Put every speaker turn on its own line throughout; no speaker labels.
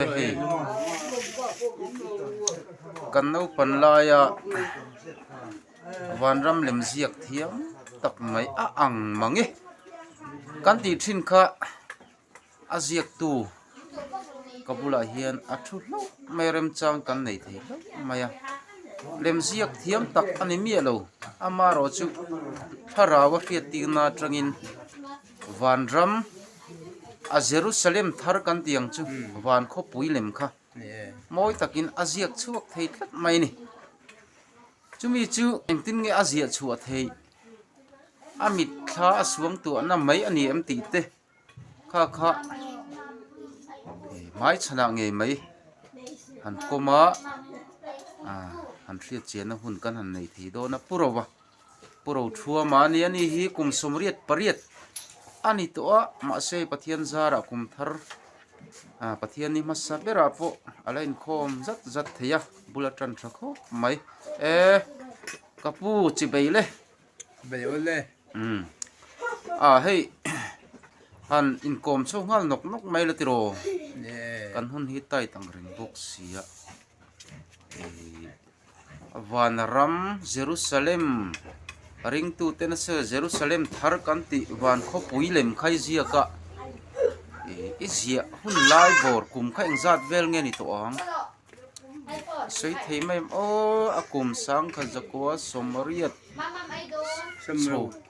hei kan naupan laia vanram lem ziak thiam tak mai a ang mang e kan tih thin kha a ziaktu ka bulah hian a thu hlauh mai a remchang kan nei thei hlauh mai a lem ziak thiam tak a ni miah lo ama erawh chu thlarau a hriat tirna atangin. Vanram a Jerusalem thar kan tih ang chu van khawpui lem kha mawi takin a ziak chhuak thei tlat mai a ni. Chumi chu engtin nge a ziah chhuah thei? A mit thla a suang tuahna mai a ni em tih te kha kha hmai chhan ah ngei mai han kawm a, han hriat chiahna hun kan han nei thei dawn a pu rova. Pu Rothua mahni a nih hi kum sawmriat pariat a ni tawh a, mahse hei Pathian zarah kum thar Pathian ni hmasa berah pawh a la inkhawm zat zat thei a, bula tan tha khawp mai. E ka pu chi bei le. Bei aw le. Umm a hei han inkawm chho nghal nawk nawk mai la tiraw? Kan hun hi Taitang reng bawk sia. Van ram Jerusalem ringtu te nasa Jerusalem thar kan tih van khawpui lem khai ziak a i ziah hun lai bawr kum kha eng zat vel nge ni tawh ang sawi thei mai em aw a kum sang kha zakua sawmriat chho.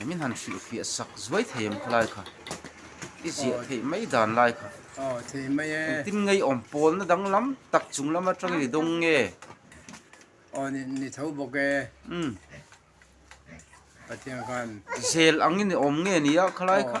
Engin han hrih fiah sak zuai thei em khulai kha i ziah theih mai dan lai kha. Aw thei mai e. Engtin ngeiawm pawlna danglam tak chung lam atangin i dawng nge? Aw ni ni tho bawk e. Um. Pathian khan. Zel angin i awm nge nia khulai kha.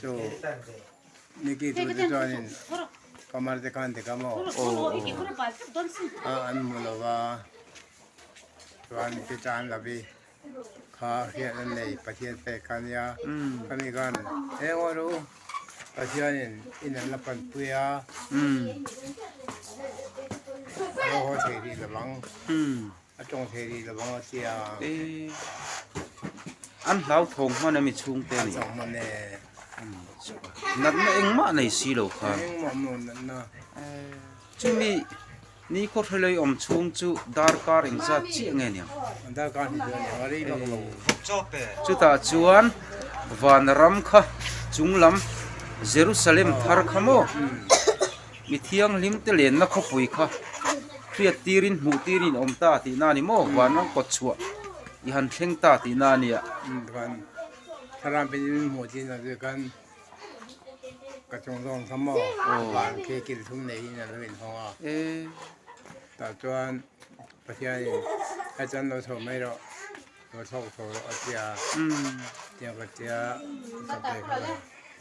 Chu Nicky tu te chuanin Pamar te khan dik a maw? A an hmu lo va, chuan Pitan Lavi kha hriat an nei, Pathian pek kha nia. Khami khan eng aw lo, Pathianin i nalh la pan pui a, a lo haw thei rih lo vang. A tawng thei rih lo vang atia. E an hlau thawng hman ami chhung te ani. Chang man e. Natna engmah nei si lo kha. Engmah mo natna. Chumi ni kho thlelei om chhung chu darkar eng zat chiah nge niang. Darkar ni chu aniang rei bak lo. Chuta chuan vanram kha chunglam Jerusalem thar kha maw? mi thianghlim te lenna khawpui kha hriat tirin hmuh tirin awm ta tihna a ni maw vanrang kawt chhuah i han thleng ta tihna a nia thlarang pin in hmuh tiin a zia khan ka chung zawng kha maw van khi kil thum nei in alo in hawng a tah chuan pathianin hachan lo chho mai rawh lo thlawk chho rawh a tia tiang ka tia ka pe kha lo.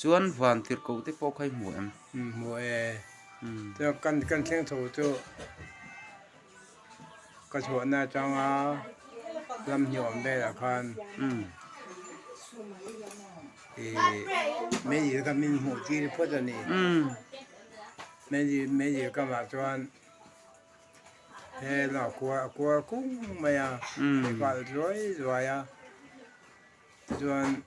Chuan van tirh koh te pawh kha i hmu em? I hmu e. Chuan kan kan thleng tho chu ka chhuahna atanga lam ni awm velah khan ih medical camp in hmuh tir phawt a ni. Medical camp ah chuan he lawng a kual a kual kung mai a, a nghal zuai zuai a. chuan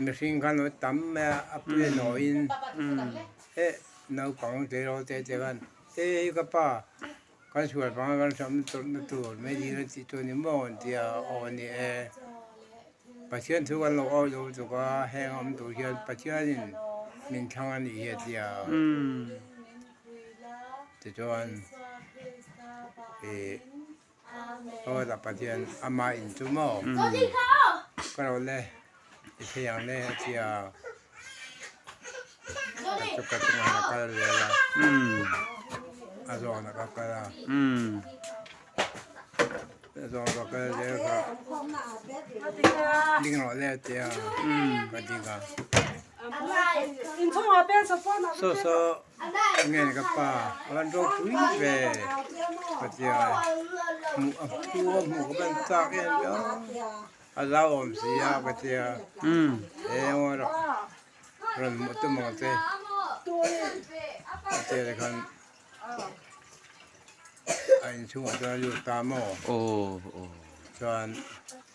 mihring khan an tam mai a a pu leh nawi in heh naupang te ro te te khan he hi ka pa kan sual panga kan hram tawrhna tur mai ni ila tih chu a ni maw an ti a aw a ni e pathian thu kan lo au lo tuk a heng awm tur hian pathian in min thlang a ni hi a ti a tichuan ih-- Hawla Pathian amah in chu maw ka rawh le i phei ang le a tia ka chu ka chungah hian a kal zel a a zawng ah ka kal a a zawng ah ka kal zel kha ding rawh le a tia ka ding a saw saw. Ka ngen ka pa a rawn rawk pui ve Hmatia hmuh a thu a hmuh ka ban chak em em a a zau awm si a Hmatia engaw erawh ka rawn hmuh tum ang che Hmatia te khan a inchhungah chuan a lut ta maw aw chuan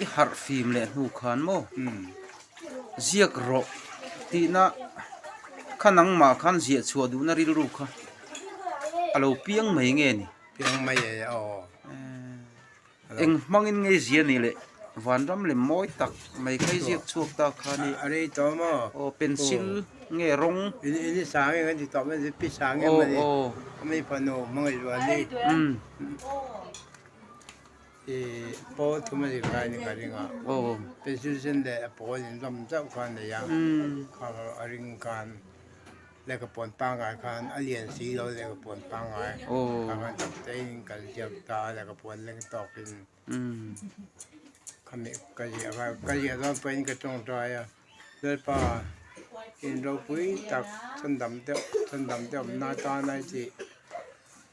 I harh fim leh hnu khan maw? Ziak rawh tihna kha nangmah khan ziah chhuah duhna rilru kha a lo piang mai nge ni? Piang mai e aw. Eng hmangin ngei zia nih leh vanram lem mawi tak mai kha i ziak chhuak ta khan i? A rei tawh maw? Aw pencil nge rawng? I ni sang em kan ti tawh mai pi sang em a ni? Aw aw. Ka mi fanu hmangaih rual hi. I pawl thum anih kha ine ka ring a, President leh a pawl in hlawm zauh kha a nei a, kha ro a ring khan leh ka pawn pangai khan a lian si lo leh ka pawn pangai kha khan chak che in in kal ziak ta a leh ka pawn leng tawk in khami ka ziah kha ka ziah zawn pawh in ka tawngtai a, Lalpa in ropui tak chhawndam deuh chhawndam deuh awmna atan a i tih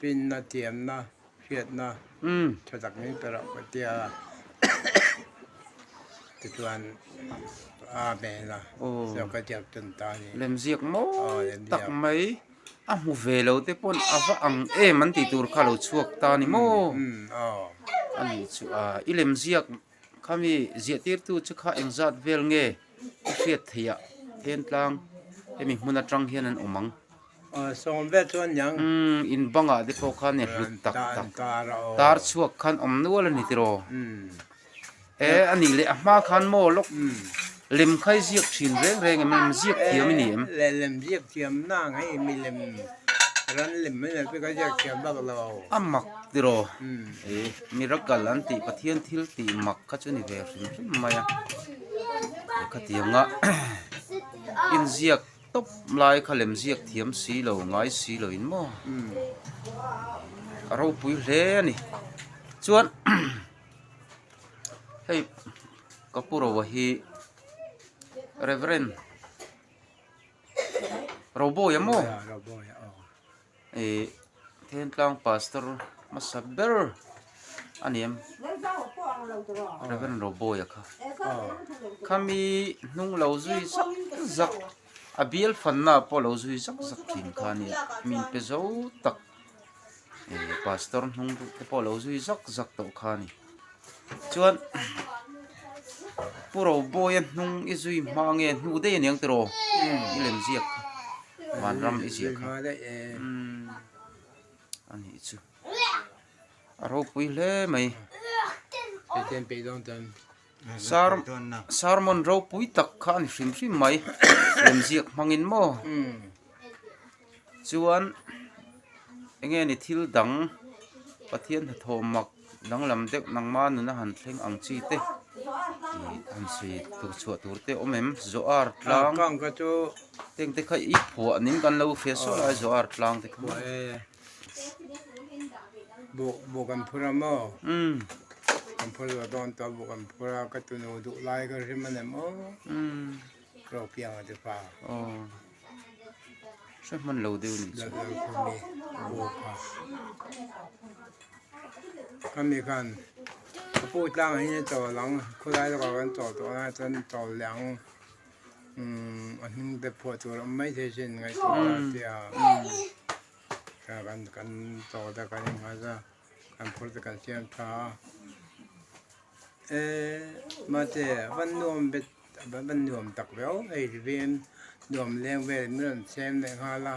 Pinna, tiamna, hriatna, tha tak min pe rauh ka tia tichuan a hmel a, saw ka diak chun ta a ni. Lemziak mawi tak mai, a hmu ve lo te pawn a va ang em an tih tur kha a lo chhuak ta a ni maw? Aw, a nih chu a, i lemziak. Khami ziahtirtu chu kha engzat vel nge i hriat theiah then tlang hemi hmun atang hian an awm ang? Sawm vet chu a niang. Umm, in bangah te pawh khan e hlut tak tak. Tar chhuak khan awm nual a ni tiraw? Umm. E, a nih leh a hma khan maw lawk? Umm. Lem khai ziak thin reng reng em? Lem ziak thiam i ni em? Leh lem ziak thiam na ang hei, milem ran lem mai lote ka ziak thiam bak lo. A mak tiraw? E, miracle an tih Pathian thil ti mak kha chu ni ve hrim hrim mai a. Te kha tiang a, in ziak tawp lai kha lem ziak thiam si lo, ngai si lo in maw? A ropui hle a ni. Chuan hei Ka pu rova hi Rev. Roboia maw? Thentlang Pastor hmasa ber a ni em? Rev. Roboia kha. Khami hnung lo zui zak zak, a bialfanna pawh lo zui zak zak thin kha a ni a, min pe zo tak. eh pastor hnung duh te pawh lo zui zak zak tawh kha a ni chuan pu roboia hnung i zui hma nge hnu daih a niang tiraw i lem ziak kha van ram i ziah kha a nih chu a ropui hle mai. Sermon ropui tak kha a ni hrim hrim mai lemziak hmangin maw chuan eng nge ni thil dang Pathian hnathawh mak danglam deuh nangma nuna han thleng ang chi te han sawi tur chhuah tur te awm em Zohar tlang hengte kha i phuah ning kan lo hria suah lai Zohar tlang te kha. Buk buk kan phur a maw kan phur zawh dawn tawh buk kan phur a ka tunu duh lai ka hrim a nem aw rophianga te pha hre hman lo deuh ni chu kami khan ka pu tlang ah hian i chawl ang khulai lawkah kan chawl tawh nai chuan chawl leh ang. a hming bag phuah tur awm mai thei chin ngaihtuah a tia ka kan kan chaw te kan inhmai za kan phur te kan siam tha a e mate van nuam bet van nuam tak viau hei ri vin nuam leng vel min rawn siam leh nghal a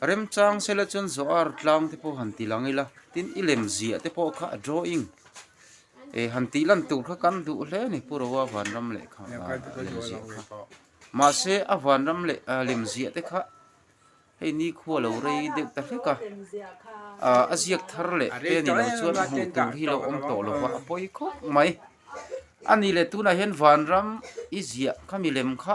Remchang sela chuan Zoar tlang te pawh han tilang ila, tin i lem ziah te pawh kha a drawing e han tih lan tur kha kan duh hle a ni, Pu Roa vanram leh kha lem ziah kha. Mahse a vanram leh a lem ziah te kha hei nikhua lo rei deuh ta hlek a, a ziak thar leh te ni lo chuan a hmuh tur hi lo awm tawh lo va, a pawi khawp mai a ni leh tunah hian vanram i ziah kha milem kha,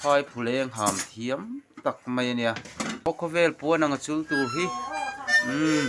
Phaiphuleng ham thiam tak mai a nia. Aw khawvel puan anga chul tur hi umm.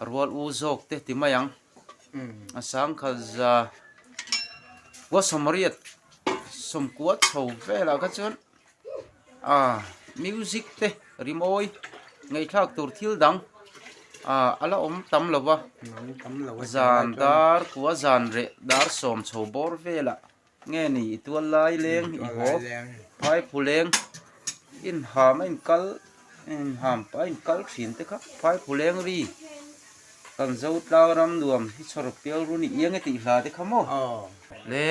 A rual u zawk te ti mai ang. A sangkhalza khua sawmriat sawmkua chho velah kha chuan ah music te rimawi ngaihthlak tur thil dang ah a la awm tam lo va zan dar khua zan reh dar sawm chho bawr velah. Nge ni i tual lai leng i haw phai phu leng in ham a in kal in ham a in kal thin te kha phai phu leng ri kan zo tlau ram nuam hi chhawr pial ru ni eng e tih hla te kha maw le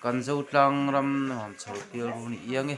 kan zo tlang ram nuam chhawr pial ru ni eng e.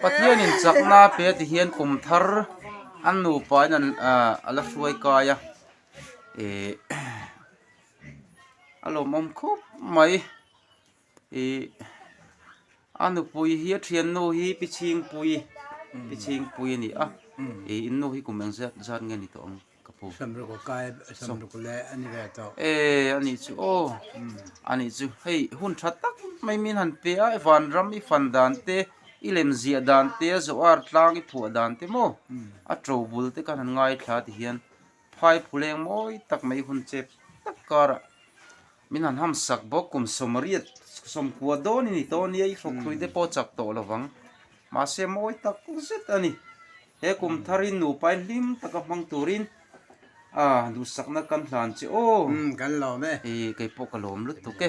Pathian in chakna a pe ti hian kum thar an nupa in a la hruai kai a, a lawmawm khawp mai. Ih a nupui hi a thiannu hi Pichingpui Pichingpui a ni a, ih in nu hi kum eng zat zat nge ni tawh ang ka pu? Samruka kai Samruk le a ni ve tawh. Eh a nih chu aw a nih chu hei hun tha tak mai min han pe a, i vanram i fan dan te i lem ziah dan te a zawh a, tlang i phuah dan te maw a to bul te khan han ngaithla ti hian, Phai phuleng mawi tak mai hun chep tak karah min han ham sak bawk, kum sawmriat sawmkua dawn i ni tawh ania, i hrukhruih te pawh chak tawh lo vang, mahse mawi tak zet a ni. He kum tharin nupain hlim taka hmang turin a duhsakna kan hlan che aw, kei pawh ka lawm lutuk e.